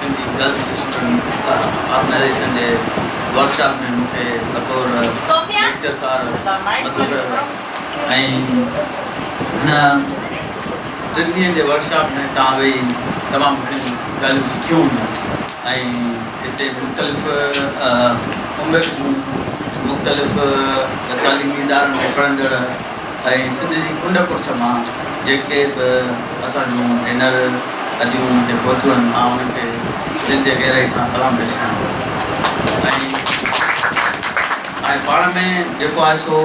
Sindhi girls student organisation جي workshop ۾ مون کي بطور ليڪچرڪار مدعو ڪيو ويو ۽ هن ٽن ڏينهن جي ورڪشاپ ۾ توهان ويهي تمام گهڻيون ڳالهيون سکيون هونديون ۽ هتي مختلف عمر جون مختلف تعليمي ادارن ۾ پڙهندڙ ۽ سنڌ جي ڪنڊ ڪڙڇ مان جيڪي به اسان جون ڀينر اديون مون تي پهتيون آهن مان انهن کي دل جي گهرائي سان سلام پيش ڪيان ٿو ۽ ۽ پاڻ ۾ جيڪو آهي سو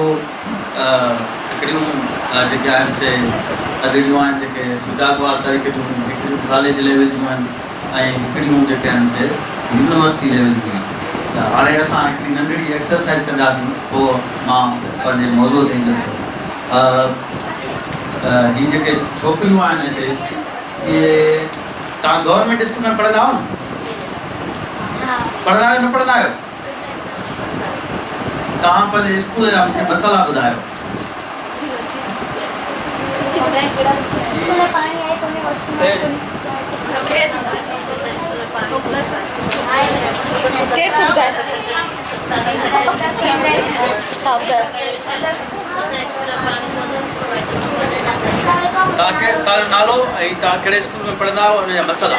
هڪڙيون جيڪي آهن سي ادڙيون آهن جيڪي سجاڳ وار طريقي جون هڪڙيون ڪاليج ليول جون آهن ۽ ڪڙيون جيڪي آهن سي يونيورسٽي ليول جون آهن ته هاڻي اسان هڪڙي ننڍڙي ايڪسرسائيز ڪنداسين پوء مان پنهنجي موضوع تي ايندس ته هي جيڪي ڇوڪريون آهن هتي اهي توهان گورنمينٽ اسڪول ۾ پڙهندا آهيو نه پڙهندا آهيو نه پڙهندا آهيو. توهان پنهنجي اسڪول جا مونکي مسئلا ٻڌايو. توهان جو نالو ۽ توهان ڪهڙي اسڪول ۾ پڙهندا هئا ان جا مسئلا.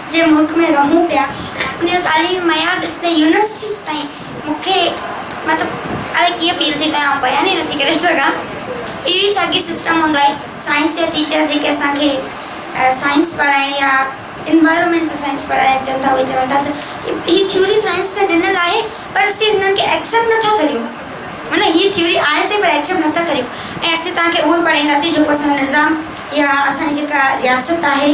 جي ملڪ ۾ رهون پيا ان جو تعليمي معيار ڏسندي يونيورسٽيز تائين مون کي مطلب اڙي ڪيئن فيل ٿي ڪيان آئون بيان ئي نٿي ڪري سگهان اهو ئي ساڳي سسٽم هوندو آهي سائنس جا ٽيچر جيڪي اسان کي سائنس پڙهائڻ يا انوائرمينٽل سائنس پڙهائڻ اچن ٿا اهي چون ٿا ته هي ٿيوري سائنس ۾ ڏنل آهي پر اسين هنن کي ايڪسيپٽ نٿا ڪريون مطلب هي ٿيوري آهي سهي پر ايڪسيپٽ نٿا ڪريون ۽ اسين توهان کي اهو ئي پڙهائينداسين جيڪو اسان جو نظام يا اسان جي جيڪا رياست آهي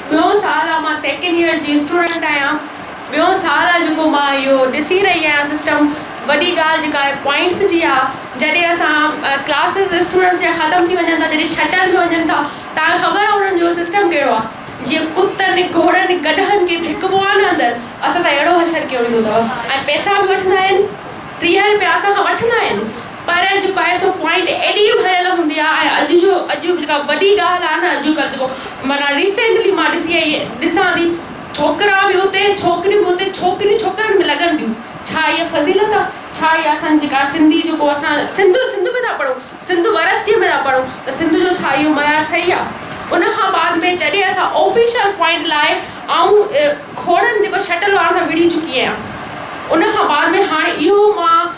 ٻيو سال آ مان سيڪنڊ ييئر جي اسٽوڊنٽ آهيان ٻيو سال آ جيڪو مان اهو ڏسي رهي آهيان سسٽم وڏي ڳالهه جيڪا آهي پوائنٽس جي آ جڏهن اسان ڪلاسز اسٽوڊنٽس جا ختم ٿي وڃن ٿا جڏهن ڇٽن ۾ وڃن ٿا تان خبر آ انهن جو سسٽم ڪهڙو آ جيئن ڪتن گهوڙن گڏهن کي ڌڪبو آ نه اندر اسان سان اهڙو حشر ڪيو ويندو اٿو ۽ پئسا به وٺندا آهن ٽيهه رپيا اسان کان وٺندا آهن پر جيڪو آهي سو پوائنٽ ايڏي ڀريل هوندي آهي ۽ اڄ جو اڄ جو جيڪا وڏي ڳالهه آهي نه اڄ ڪلهه جيڪو معنيٰ ريسينٽلي مان ڏسي آئي ڏسان ٿي ڇوڪرا به اتي ڇوڪريون به اتي ڇوڪريون ڇوڪرن ۾ لڳن ٿيون ڇا اها فضيلت آهي ڇا اها اسان جيڪا سنڌي جيڪو اسان سنڌ سنڌ ۾ ٿا پڙهون سنڌ ورسٽيء ۾ ٿا پڙهون ته سنڌ جو ڇا اهو معيار صحيح آهي ان کان بعد ۾ جڏهن اسان آفيشل پوائنٽ لاء آئون کوڙن جيڪو شٽل وارن سان وڙهي چڪي آهيان ان کان بعد ۾ هاڻي اهو مان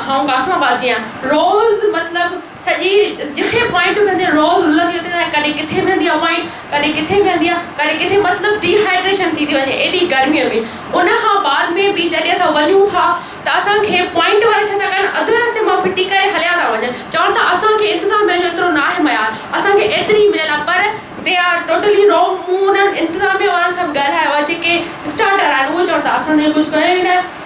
آئون قاسم آباد جي آهيان روز مطلب سڄي جتي پوائنٽون بيهنديون روز رلندي اتي تائين ڪڏهن ڪٿي بيهندي آ پوائنٽ ڪڏهن ڪٿي بيهندي آ ڪڏهن ڪٿي مطلب ڊي هائيڊريشن ٿي ٿي وڃي ايڏي گرمي ۾ ان کان بعد ۾ به جڏهن اسان وڃون ٿا ته اسان کي پوائنٽ وارا ڇا ٿا ڪن اڌ رستي مان ڦٽي ڪري هليا ٿا وڃن چون ٿا اسان کي انتظاميا جو ايترو ناهي ميار اسان کي ايتري ميل آ پر دي آر ٽوٽلي رونگ مون انهن انتظاميا وارن سان به ڳالهايو آ جيڪي اسٽارٽر آهن اهي چون ٿا اسان ته ائين ڪجهه ڪيو ئي ناهي.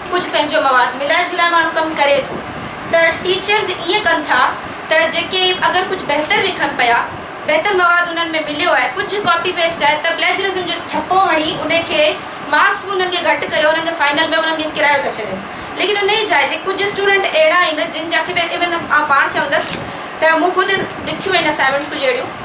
ڪجهه پنهنجو مواد ملائي جلائي ماڻهو ڪم ڪري ٿو ته ٽيچرز ائين ڪن ٿا ته جيڪي اگر ڪجهه بهتر لکن پيا بهتر مواد انهن ۾ مليو آهي ڪجهه ڪاپي پيسٽ آهي ته پليجرزم جو ٺپو هڻي ان کي مارڪس به انهن کي گهٽ ڪيو انهن کي فائنل ۾ انهن کي ڪرايو ٿا ڇڏين ليڪن ان جي جاء تي ڪجهه اسٽوڊنٽ اهڙا آهن جن جا خير ايون آئون پاڻ چوندس ته مون خود ڏٺيون آهن اسائنمينٽس ڪجهه اهڙيون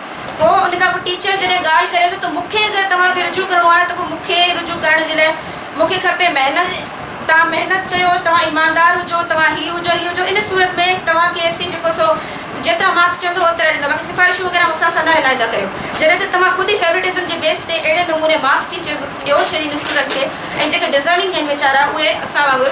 پوء ان کان پوء ٽيچر جڏهن ڳالهه ڪري ٿو ته مون کي اگر توهان کي رجوع ڪرڻو آهي ته پوء مون کي رجوع ڪرڻ جي لاء مون کي کپي محنت، توهان محنت ڪيو، توهان ايماندار هجو، توهان هي هجو، هي هجو، ان صورت ۾ توهان کي اسين جيڪو سو جيترا مارڪس چوندو اوترا ڏيندا، باقي سفارشون وغيره مون سان اسان نه هلائيندا ڪريو. جڏهن ته توهان خود ئي فيورٽزم جي بيس تي اهڙي نموني مارڪس ٽيچرز ڏيو ڇي ان اسٽوڊنٽس کي ۽ جيڪي ڊزرونگ آهن ويچارا اهي اسان وانگر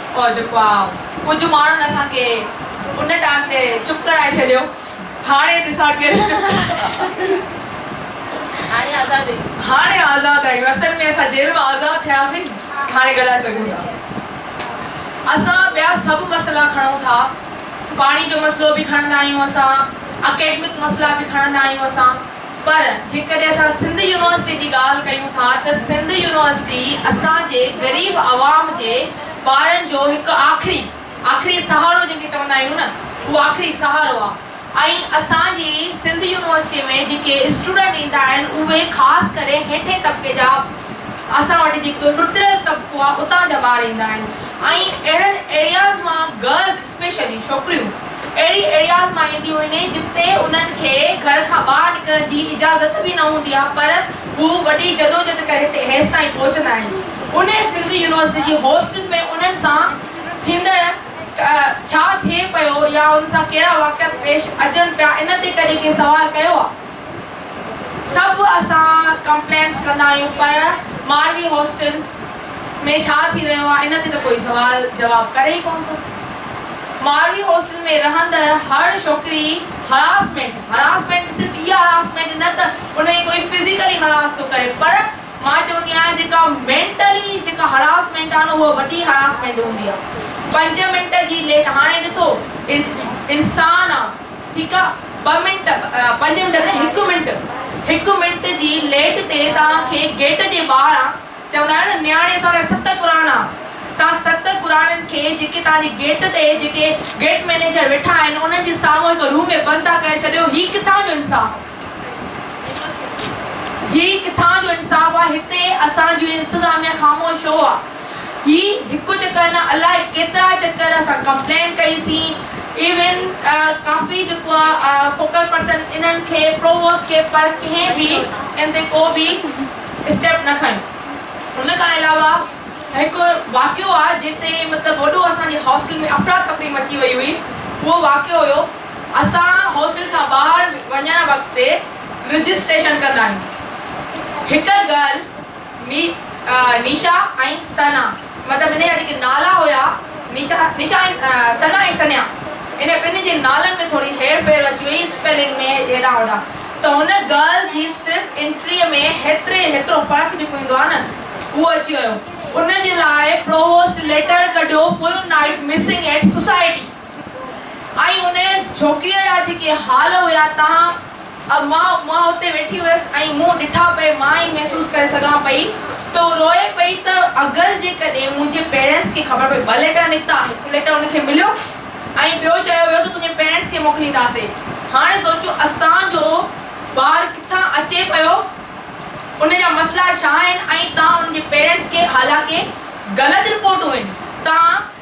او جيڪو آ ڪجهه ماڻهن اسان کي ان ٽائيم تي چپ ڪرائي ڇڏيو هاڻي ڏسان ڪير چپ هاڻي آزاد آهيون هاڻي آزاد آهيون اصل ۾ اسان جيل مان آزاد ٿياسين هاڻي ڳالهائي سگهون ٿا اسان ٻيا سڀ مسئلا کڻون ٿا پاڻي جو مسئلو به کڻندا آهيون اسان اڪيڊمڪ مسئلا به کڻندا آهيون اسان پر جيڪڏهن اسان سنڌ يونيورسٽي جي ڳالهه ڪيون ٿا ته سنڌ يونيورسٽي اسان جي غريب عوام جي ٻارن جو هڪ آخري آخري سهارو جنهن کي چوندا آهيون نه اهو آخري سهارو آهي ۽ اسان جي سنڌ يونيورسٽي ۾ جيڪي اسٽوڊنٽ ايندا آهن اهي خاص ڪري هيٺين طبقي جا اسان وٽ جيڪو ڏتريل طبقو آهي اتان جا ٻار ايندا آهن ۽ اهڙن ايرياز مان گرلز اسپيشلي ڇوڪريون اهڙي ايرياز مان اينديون آهن جن تي انهن کي گهر کان ٻاهر نڪرڻ جي اجازت به نه هوندي آهي پر هو وڏي جدوجھد ڪري هتي هيس تائين پهچندا آهن انهي سنڌ يونيورسٽي جي هاسٽل ۾ انهن سان ٿيندڙ ڇا ٿئي پيو يا ان سان ڪهڙا واقعات پيش اچن پيا ان تي ڪڏهن ڪنهن سوال ڪيو آهي. سڀ اسان ڪمپلينس ڪندا آهيون پر ماروي هاسٽل ۾ ڇا ٿي رهيو آهي ان تي ته ڪوئي سوال جواب ڪري ئي ڪونه ٿو. ماروي هاسٽل ۾ رهندڙ هر ڇوڪري هراسمينٽ، هراسمينٽ صرف اها هراسمينٽ نه ته ان کي ڪوئي فزيڪلي هراس ٿو ڪري پر مان چوندي آهيان جيڪا مينٽلي جيڪا هراسمينٽ آهي نه اها وڏي هراسمينٽ هوندي آهي. پنج منٽ جي ليٽ هاڻي ڏسو انسان آ. ٺيڪ آ ٻه منٽ پنج منٽ نه هڪ منٽ هڪ منٽ جي ليٽ تي توهان کي گيٽ جي ٻاهران چوندا آهيون نه نياڻي اسان لاء ست قرآن آ توهان ست قرآنن کي جيڪي توهان جي گيٽ تي جيڪي گيٽ مئنيجر ويٺا آهن انهن جي سامهون هڪ روم ۾ بند ٿا ڪري ڇڏيو هي ڪٿان جو انصاف هي ڪٿان جو انصاف آ هتي اسان جي انتظاميا خاموش ڇو آ. هي هڪ چڪر نه الاء ڪيترا چڪر اسان ڪمپلين ڪئي سين ايون ڪافي جيڪو آ فوڪل پرسن انهن کي پروووس ڪي پر ڪنهن به ان تي ڪو به اسٽيپ نه کنيو ان کان علاوه هڪ واقعو آ جنهن تي مطلب وڏو اسان جي هاسٽل ۾ افرا تفري مچي وئي هئي اهو واقعو هيو اسان هاسٽل کان ٻاهر وڃڻ وقت تي رجسٽريشن ڪندا آهيون هڪ گرل ني نيشا ۽ سنا مطلب هن جا جيڪي نالا هيا نيشا نيشا ۽ سنا ۽ سنيا هن ٻنهي جي نالن ۾ ٿوري هير ڦير اچي وئي اسپيلنگ ۾ هيڏانهن هوڏانهن ته هن ڳالهه جي صرف انٽري ۾ هيتري هيترو فرق جيڪو ايندو آهي نه اهو اچي ويو ان جي لاء پرووسٽ ليٽر ڪڍيو full night missing at society. ۽ انهيء جهوڳيء جا جيڪي حال هيا تنهن م مان اتي ويٺي هيس ۽ مون ڏٺا پئي مان ئي محسوس ڪري سگهان پئي ته هو روئي پئي ته اگر جيڪڏهن منهنجي پيرينٽس کي خبر پئي ٻه ليٽر نڪتا هڪ ليٽر ان کي مليو ۽ ٻيو چيو ويو ته تنهنجي پيرينٽس کي موڪلينداسين هاڻي سوچو اسان جو ٻار ڪٿان اچي پيو ان جا مسئلا ڇا آهن ۽ تان ان جي پيرينٽس کي حالانڪه غلط رپورٽون هن تان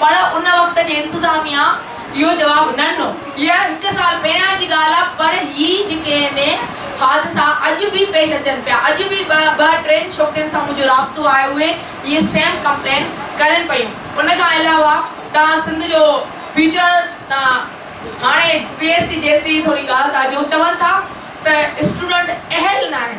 پر ان وقت جي انتظاميا اهو جواب نه ڏنو. اها هڪ سال پهريان جي ڳالهه آهي پر هي جيڪي هني حادثا اڄ به پيش اچن پيا اڄ به ٻه ٽن ڇوڪرين سان منهنجو رابطو آهي اهي اهي سيم ڪمپلين ڪرين پيون ان کان علاوه توهان سنڌ جو فيوچر تان هاڻي P S T G S T جي ٿوري ڳالهه ٿا جو چون ٿا ته اسٽوڊنٽ اهل ناهن.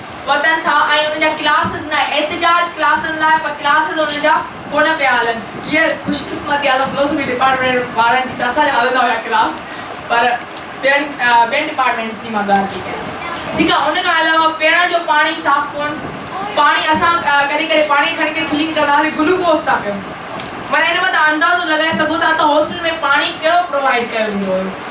وڌن ٿا ۽ انهن جا ڪلاسز نه احتجاج ڪلاسن لاء پر ڪلاسز انهن جا ڪونه پيا هلن. هيء خوش قسمتي آهي ته فلوسفي ڊپارٽمينٽ وارن جي ته اسان جا هلندا هيا ڪلاس پر ٻين ٻين ڊپارٽمينٽس جي مان ڳالهه پئي ڪيان ٺيڪ آهي ان کان علاوه پيئڻ جو پاڻي صاف ڪون پاڻي اسان ڪڏهن ڪڏهن پاڻي کڻي ڪري ڪلين ڪندا هئاسين گلوڪوز ٿا پيئون معنيٰ ان مان تان اندازو لڳائي سگهو ٿا ته هاسٽل ۾ پاڻي ڪهڙو پرووائيڊ ڪيو ويندو هيو.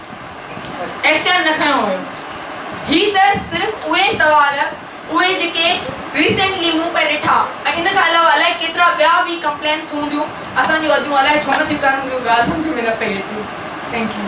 ايڪشن نه کنيو ويو. هي ته صرف اهي سوال اهي جيڪي ريسينٽلي مون پئي ڏٺا ۽ ان کان علاوه الائي ڪيترا ٻيا به ڪمپلينس هونديون اسان جون اديون الائي ڇو نه ٿيون ڪن مون کي ڳالهه سمجهه ۾ نه پئي اچي ٿينڪ يو.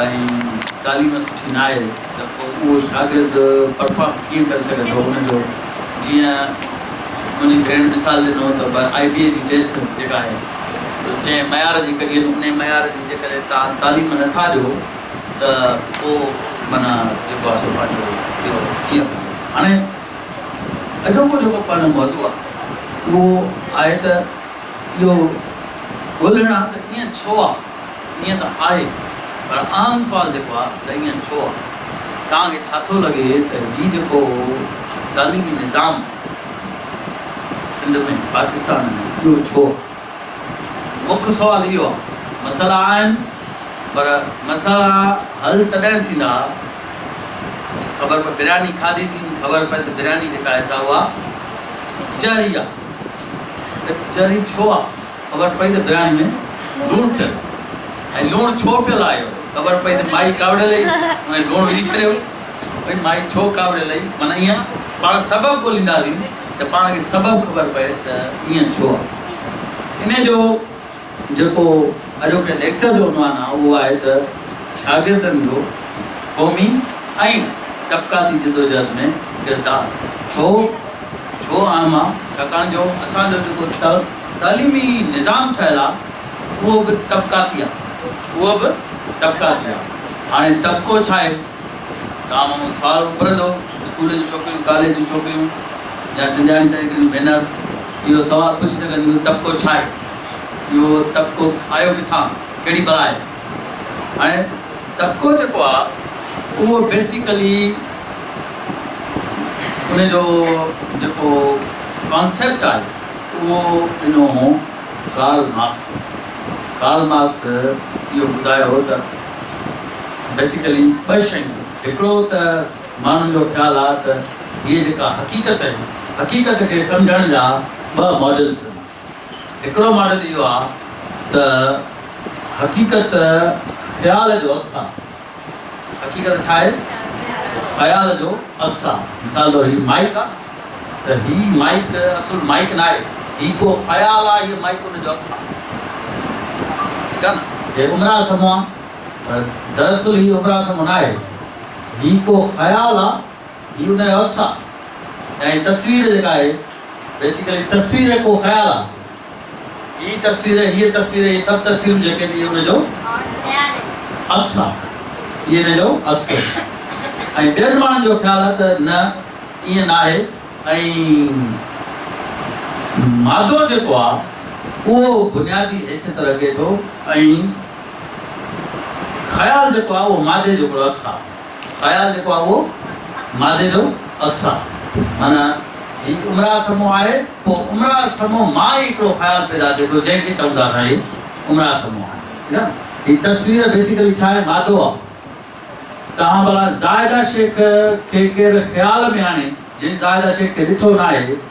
۽ تعليم سٺي نه آهي ته پوء اهو شاگرد پرفارم ڪيئن ڪري سگهندو ان جو جيئن منهنجي ڀيڻ مثال ڏنو ته به آئي بي اي جي ٽيسٽ جيڪا آهي سو جنهن معيار جي ڪڍي ان انهي معيار جي جيڪڏهن توهان تعليم نه ٿا ڏيو ته پوء معنيٰ جيڪو آهي سو پنهنجو اهو ڪيئن ڪندو هاڻي اڄوڪو جيڪو پنهنجو موضوع آهي اهو آهي ته اهو ڳولهڻ آهي ته ايئن ڇو آهي ائين ته آهي پر اهم سوال جيڪو آهي ته ائين ڇو آهي؟ توهان کي ڇا ٿو لڳي ته هي جيڪو تعليمي نظام سنڌ ۾ پاڪستان ۾ اهو ڇو آهي؟ مک سوال اهو آهي. مسئلا آهن پر مسئلا حل تڏهن ٿيندا ته خبر پئي برياني کاڌي سين خبر پئي ته برياني جيڪا آهي سا اها ڪچهري آهي ڪچهري ڇو آهي؟ خبر پئي ته برياني ۾ لوڻ پيل ۽ لوڻ ڇو پيل آيو خبر پئي ته مائي ڪاوڙي لئي ۽ لوڻ وجهي ڇڏيو ڀئي مائي ڇو ڪاوڙي لئي معنيٰ ايئن آ پاڻ سبب ڳولينداسين ته پاڻ کي سبب خبر پئي ته ايئن ڇو آ انهي جو جيڪو اڄوڪي ليڪچر جو عنوان آ اهو آهي ته شاگردن جو قومي ۽ طبقاتي جدوجهد ۾ ڪردار ڇو ڇو عام آ؟ ڇاڪاڻ جو اسان جو جيڪو تعليمي نظام ٺهيل آ اهو به طبقاتي آ اهو به طبقاتي آ هاڻي طبقو ڇا آهي؟ توهان مون سوال اڀرندو اسڪول جون ڇوڪريون ڪاليج جون ڇوڪريون يا سنڌياڻي تحريڪ جون ڀينر اهو سوال پڇي سگهنديون طبقو ڇا آهي؟ اهو طبقو آيو ڪٿان؟ ڪهڙي بلائي؟ ۽ ٽڪو جيڪو آ اهو بيسيڪلي ان جو جيڪو ڪانسيپٽ آهي اهو ڏنو هو ڪارل مارڪس کي. ڪارل مارڪس اهو ٻڌايو هو ته بيسيڪلي ٻه شيون ٿيون هڪڙو ته ماڻهن جو خيال آ ته هيء جيڪا حقيقت آهي حقيقت کي سمجهڻ جا ٻه ماڊلز هوندا. هڪڙو ماڊل اهو آ ته حقيقت خيال جو عڪس آ. حقيقت ڇا آهي؟ خيال جو عڪس آ. مثال طور هي مائيڪ آ ته هي مائيڪ اصل مائيڪ ناهي. هي ڪو خيال آ هيء مائيڪ ان جو عڪس آ. ٺيڪ آ نه؟ هي عمران سمو آ پر دراصل هي عمران سمو ناهي. هي ڪو خيال آ. هي ان جو عڪس آ ۽ تصوير جيڪا آهي بيسيڪلي تصوير ڪو خيال آ هي تصوير هيء تصوير هي سڀ تصويرون جيڪي ٿي ان جو عڪس آ هي ان جو عڪس آ ۽ ٻين ماڻهن جو خيال آ ته نه ائين ناهي ۽ مادو جيڪو آ اهو بنيادي حيثيت رکي ٿو ۽ خيال جيڪو آ اهو مادي جو هڪڙو عڪس آ. خيال جيڪو آهي اهو مادي جو عڪس آهي. معنيٰ هي امراء سمو آهي، پوء امراء سمو مان ئي هڪڙو خيال پيدا ٿئي ٿو جنهن کي چون ٿا اسان هي امراء سمو آهي. ٺيڪ آهي نه. هي تصوير بيسيڪلي ڇا آهي؟ مادو آهي. توهان ڀلا زاهده شيخ کي ڪير خيال ۾ آڻي جنهن زاهده شيخ کي ڏٺو ناهي.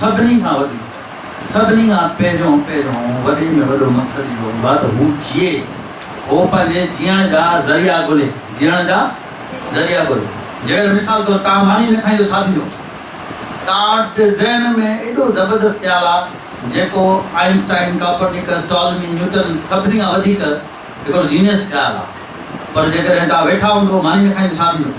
سڀني کان وڌيڪ، سڀني کان پهريون پهريون وڏي ۾ وڏو مقصد اهو هوندو آهي ته هو جيئي، هو پنهنجي جيئڻ جا ذريعا ڳولهي، جيئڻ جا ذريعا ڳولهي. جيئر مثال طور تان ماني نه کائين ته ڇا ٿيندو؟ تان وٽ ذهن ۾ ايڏو زبردست خيال آهي جيڪو آئنسٽائن، ڪاپرنيڪس، ٽالمي، نيوٽن سڀني کان وڌيڪ، هڪڙو جينيس خيال آ پر جيڪڏهن ڪا ويٺا هون ته ماني نه کائيندو ڇا ٿيندو.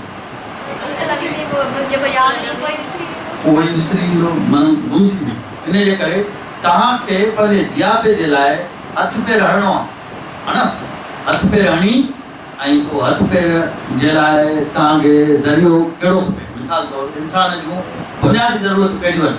جيڪو ياد هجي اهو ئي وسري ويندو. اهو ئي وسري ويندو معنيٰ گم ٿي ويندو. انهيء جي ڪري توهان کي پنهنجي جياپي جي لاء هٿ پير هڻڻو آ ها نه هٿ پير هڻي ۽ پوء هٿ پير جي لاء توهان کي ذريعو ڪهڙو کپي مثال طور انسان جون بنيادي ضرورتون ڪهڙيون آهن.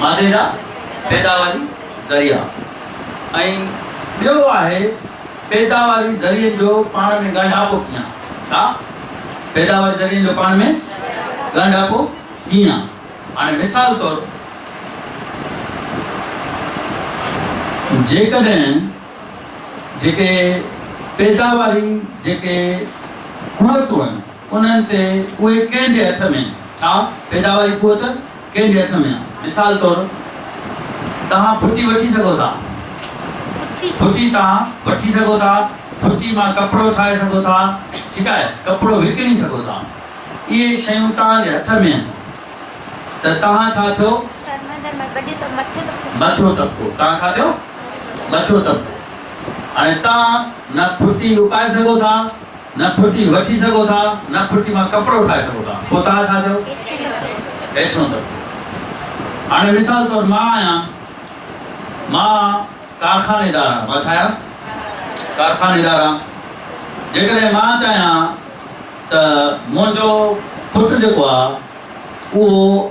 مادي جا پيداواري ذريعا ۽ ٻيو آهي پيداواري ذريعن جو پاڻ ۾ ڳنڍاپو ڪيئن؟ ڇا؟ پيداواري ذريعن جو پاڻ ۾ ڳنڍاپو ڪيئن؟ هاڻي مثال طور جيڪڏهن جيڪي پيداواري جيڪي قوتون آهن، انهن تي اهي ڪنهن جي هٿ ۾ ڇا پيداواري قوت ڪنهن جي هٿ ۾ آ مثال طور توهان ڦٽي وٺي سگهو ٿا ڦٽي توهان وٺي سگهو ٿا ڦٽي مان ڪپڙو ٺاهي سگهو ٿا ٺيڪ آهي ڪپڙو وڪڻي سگهو ٿا اهي شيون توهان جي هٿ ۾ آهن ته توهان ڇا ٿيو مٿيون طبقو توهان ڇا ٿيو مٿيون طبقو هاڻي توهان نه ڦٽي اپائي سگهو ٿا. نه ڦٽي وٺي سگهو ٿا نه ڦٽي مان ڪپڙو ٺاهي سگهو ٿا پوء توهان ڇا ٿيو؟ هيٺيون طبقو. هاڻي مثال طور مان آهيان مان ڪارخانيدار آهيان مان ڇا آهيان؟ ڪارخانيدار آهيان جيڪڏهن مان چاهيان ته منهنجو پٽ جيڪو آهي اهو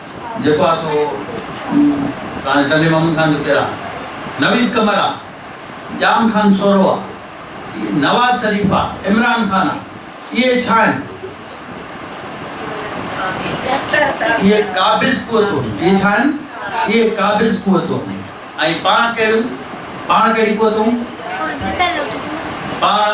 جيڪو آ سو تان ٽنڊي مامن خان جو پيران نويد قمر آ، ڄام خان سورو آ، نواز شريف آ، عمران خان آ، اهي ڇا آهن؟ اهي قابض قوتون، اهي ڇا آهن؟ اهي قابض قوتون آهن ۽ پاڻ ڪهڙيون؟ پاڻ ڪهڙي قوتون؟ پاڻ.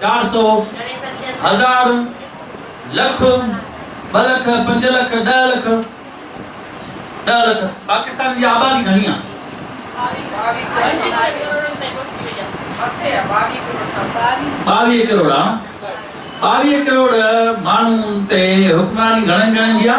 چار سئو، هزار، لک، ٻه لک، پنج لک، ڏهه لک، ڏهه لک، پاڪستان جي آبادي گهڻي آ؟ ٻاويهه ڪروڙ آ، ٻاويهه ڪروڙ ماڻهن تي حڪمراني گهڻن ڄڻن جي آ؟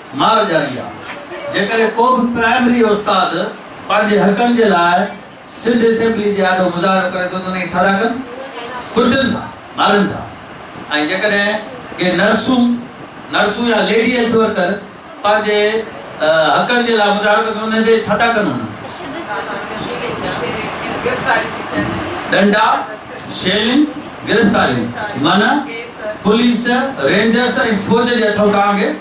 مار ڄاري آ، جيڪڏهن ڪو به پرائمري استاد پنهنجي حقن جي لاء سنڌ اسيمبلي جي آڏو مظاهرو ڪري ٿو ته انهي کي ڇا ٿا ڪن؟ ڪٽن ٿا، مارن ٿا ۽ جيڪڏهن ڪي نرسون نرسون يا ليڊي هيلٿ ورڪر پنهنجي حقن جي لاء مظاهرو ڪن ته انهن تي ڇا ٿا ڪن انهن ڏنڊا، شيلنگ، گرفتاريون معنيٰ پوليس، رينجرس ۽ فوج جي هٿون ٽانگي.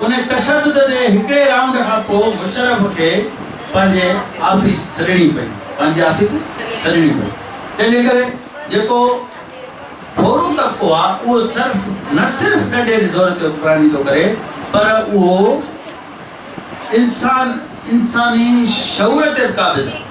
ان تشدد جي هڪڙي رائونڊ کان پوء مشرف کي پنهنجي آفيس ڇڏڻي پئي، پنهنجي آفيس ڇڏڻي پئي، تنهن جي ڪري جيڪو ٿورو طبقو آ اهو صرف نه صرف ڏنڊي جي زور تي حڪمراني ٿو ڪري پر اهو انسان انساني شعور تي به قابض آ.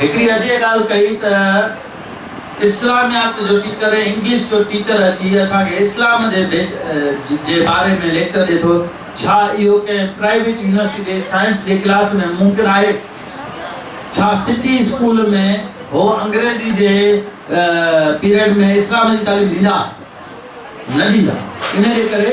هڪڙي اڄيء ڳالهه ڪئي ته اسلاميات جو ٽيچر ۽ انگلش جو ٽيچر اچي اسان کي اسلام جي جي باري ۾ ليڪچر ڏئي ٿو، ڇا اهو ڪنهن پرائيويٽ يونيورسٽي جي سائنس جي ڪلاس ۾ ممڪن آهي؟ ڇا سٽي اسڪول ۾ هو انگريزي جي پيريڊ ۾ اسلام جي تعليم ڏيندا؟ نه ڏيندا. انهيء ڪري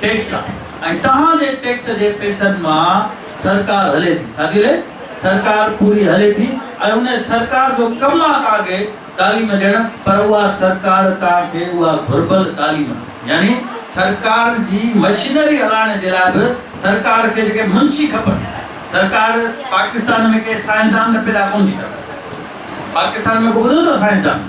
ٽيڪس ۽ توهان جي ٽيڪس جي پئسن مان سرڪار هلي ٿي، ڇا ٿي هلي؟ سرڪار پوري هلي ٿي ۽ ان سرڪار جو ڪم آ توهان کي تعليم ڏيڻ پر اها سرڪار توهان کي اها گهربل تعليم يعني سرڪار جي مشينري هلائڻ جي لاء به سرڪار کي جيڪي منشي کپن سرڪار پاڪستان ۾ ڪي سائنسدان ته پيدا ڪونه ٿي ڪري پاڪستان ۾ ڪو ٻڌو اٿو سائنسدان؟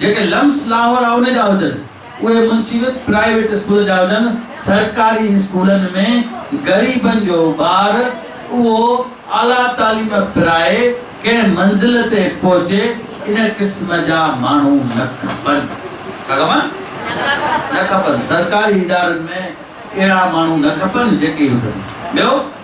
جيڪي لمس لاهور ا ان جا هجن، اهي منسيبت پرائيويٽ اسڪول جا هجن، سرڪاري اسڪولن ۾ غريبن جو ٻار اهو اعليٰ تعليم پرائي ڪنهن منزل تي پهچي، ان قسم جا ماڻهو نه کپن. ڇا کپن؟ نه کپن. سرڪاري ادارن ۾ اهڙا ماڻهو نه کپن جيڪي هجن. ٻيو؟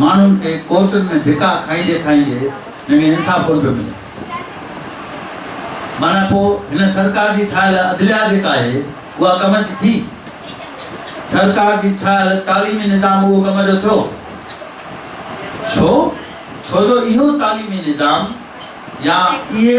ماڻهن کي ڪورٽن ۾ ڌڪا کائيندي کائيندي جنگ انصاف ڪونه پيو ملي. معنيٰ پوء هن سرڪار جي ٺاهيل عدليا جيڪا آهي اها ڪم جي ٿي؟ سرڪار جي ٺاهيل تعليمي نظام اهو ڪم جو ٿيو؟ ڇو؟ ڇو جو اهو تعليمي نظام يا اهي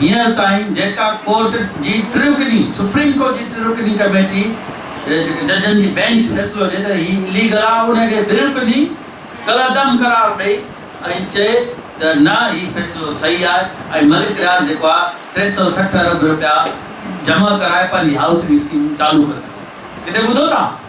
هينئر تائين جيڪا ڪورٽ جي ٽي رڪني سپريم ڪورٽ جي ٽي رڪني ڪميٽي جيڪي ججن جي بينچ فيصلو ڏئي ته هي اليگل آهي انهي کي ٻه رڪني ڪالعدم قرار ڏئي ۽ چئي ته نه هي فيصلو صحيح آهي ۽ ملڪ رياض جيڪو آهي ٽي سؤ سٺ ارب رپيا جمع ڪرائي پنهنجي هائوسنگ اسڪيمون چالو ڪري سگهي ٿو ڪٿي ٻڌو ٿا.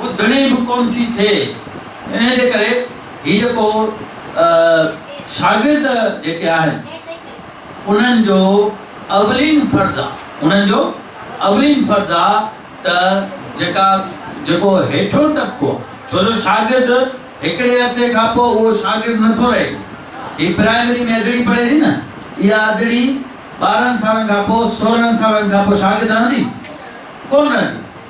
ٻڌڻي به ڪونه ٿي ٿئي انهي جي ڪري هي جيڪو شاگرد جيڪي آهن انهن جو اولين فرض آ انهن جو اولين فرض آ ته جيڪا جيڪو هيٺون طبقو ڇو جو شاگرد هڪڙي عرصي کان پوء اهو شاگرد نه ٿو رهي هي پرائمري ۾ ادڙي پڙهي ٿي نه اها ادڙي ٻارهن سالن کان پوء سورهن سالن کان پوء شاگرد رهندي ڪونه رهندي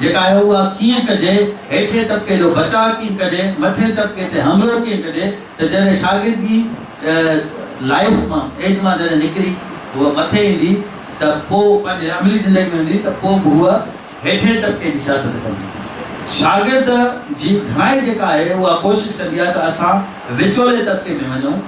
جيڪا آهي اها ڪيئن ڪجي، هيٺين طبقي جو بچاء ڪيئن ڪجي، مٿين طبقي تي حملو ڪيئن ڪجي ته جڏهن شاگردي لائيف مان، ايج مان جڏهن نڪري هوء مٿي ايندي ته پوء پنهنجي عملي زندگي ۾ ايندي ته پوء به هوء هيٺين طبقي جي سياست ڪندي. شاگرد جي گهڻائي جيڪا آهي اها ڪوشش ڪندي آهي ته اسان وچولي طبقي ۾ وڃون.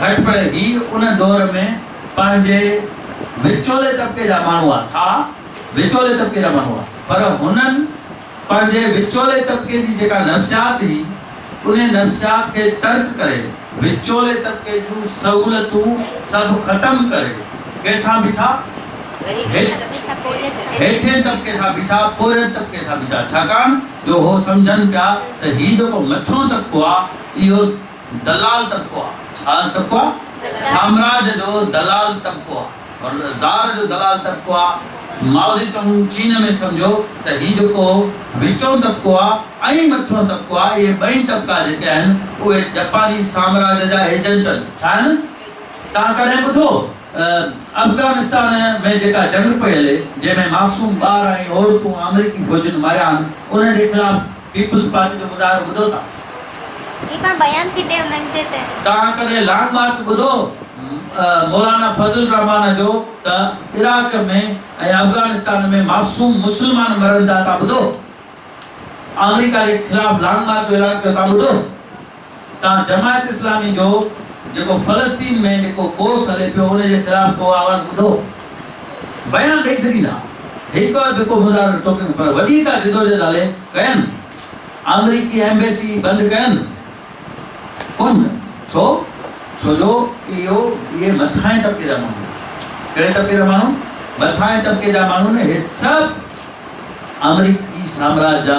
گهٽ پڙهي هي ان دور ۾ پنهنجي وچولي طبقي جا ماڻهو هئا ڇا وچولي طبقي جا ماڻهو هئا پر هنن پنهنجي وچولي طبقي جي جيڪا نفسيات هي انهي نفسيات کي ترڪ ڪري وچولي طبقي جون سهولتون سڀ ختم ڪري ڪنهن سان بيٺا هيٺين طبقي سان بيٺا پورهيت طبقي سان بيٺا ڇاڪاڻ جو هو سمجهن پيا ته هي جيڪو مٿيون طبقو آ اهو دلال طبقو آ. ڇا طبقو آ؟ سامراج جو دلال طبقو آ. ور زار جو دلال طبقو آ. مائوزي تونگ چين ۾ سمجهو ته هي جيڪو وچون طبقو آ ۽ مٿيون طبقو آ اهي ٻئي طبقا جيڪي آهن اهي جپاني سامراج جا ايجنٽن ڇا آهن؟ توهان ڪڏهن ٻڌو افغانستان ۾ جيڪا جنگ پئي هلي جنهن ۾ معصوم ٻار ۽ عورتون آمريڪي فوجين ماريا آهن انهن جي خلاف پيپلز پارٽي جو مظاهرو ٻڌو ٿا. جي پاڻ بيان ٿي ڏي انهن جي تي. توهان ڪڏهن لانگ مارچ ٻڌو مولانا فضل الرحمان جو ته عراق ۾ ۽ افغانستان ۾ معصوم مسلمان مرن ٿا ته ٻڌو آمريڪا جي خلاف لانگ مارچ جو اعلان ڪيو ته ٻڌو. تان جماعت اسلامي جو جيڪو فلسطين ۾ جيڪو ڪوس هلي پيو ان جي خلاف ڪو آواز ٻڌو؟ بيان ڏئي ڇڏيندا هڪ وقت جيڪو مظاهرو ٽوڪين پر وڏي ڪا جدوجهد هلي ڪين آمريڪي ايمبيسي بند ڪين ڪن ڇو ڇو جو اهو اهي مٿاهين طبقي جا ماڻهو ڪهڙي طبقي جا ماڻهو مٿاهين طبقي جا ماڻهو نه اهي سڀ آمريڪي سامراج جا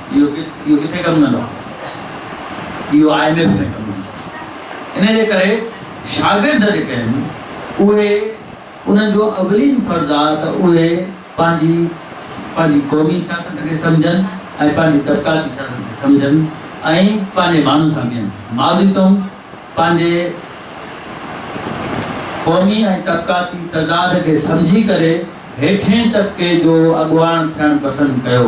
اهو ڪٿي ڪم ڪندو آهي؟ اهو آء ايم ايف ۾ ڪم ڪندو آهي. ان جي ڪري شاگرد جيڪي آهن اهي انهن جو اولين فرض آهي ته اهي پنهنجي پنهنجي قومي سياست کي سمجهن ۽ پنهنجي طبقاتي سياست کي سمجهن ۽ پنهنجي ماڻهن سان بيهن. ماضي تئون پنهنجي قومي ۽ طبقاتي تضاد کي سمجهي ڪري هيٺين طبقي جو اڳواڻ ٿيڻ پسند ڪيو.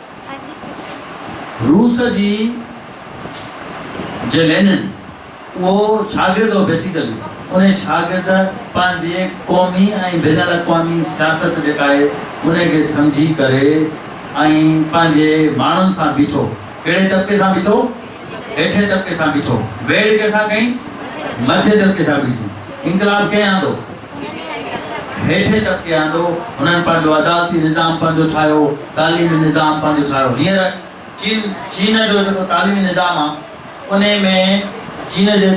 روس جي جي لينن اهو شاگرد هو بيسيڪلي انهي شاگرد پنهنجي قومي ۽ بين الاقوامي سياست جيڪا آهي انهي کي سمجهي ڪري ۽ پنهنجي ماڻهن سان بيٺو ڪهڙي طبقي سان بيٺو هيٺين طبقي سان بيٺو ويڙهه ڪنهن سان ڪئي مٿين طبقي سان بيسي انقلاب ڪنهن آندو. هيٺين طبقي آندو، هنن پنهنجو عدالتي نظام پنهنجو ٺاهيو، تعليمي نظام پنهنجو ٺاهيو. هينئر چين چين جو جيڪو تعليمي نظام آ انهي ۾ چين جي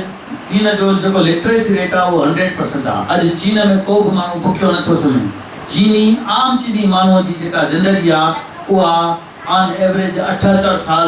چين جو جيڪو لٽريسي ريٽ آ اهو هنڊريڊ پرسنٽ آ. اڄ چين ۾ ڪو به ماڻهو بکيو نه ٿو سمهي. چيني عام چيني ماڻهوء جي جيڪا زندگي آ اها آن ايوريج اٺهتر سال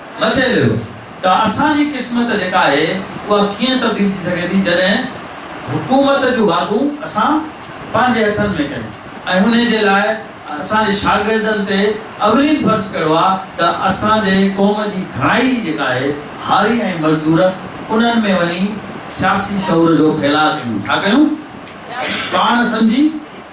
مٿي ليو ته اسان جي قسمت جيڪا آهي اها ڪيئن تبديل ٿي سگهي ٿي جڏهن حڪومت جون واڳون اسان پنهنجي هٿن ۾ ڪيون ۽ انهي جي لاء اسان جي شاگردن تي اولين فرض ڪهڙو آهي ته اسان جي قوم جي گهڻائي جيڪا آهي هاري ۽ مزدور انهن ۾ وڃي سياسي شعور جو ڦيلاء ڪيون ڇا ڪيون پاڻ سمجهي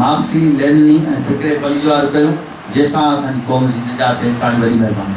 مارڪسي لينني ۽ فڪري پليجوار ڪيون جنهن سان اسان جي قوم جي نجات ٿئي توهان جي وڏي مهرباني.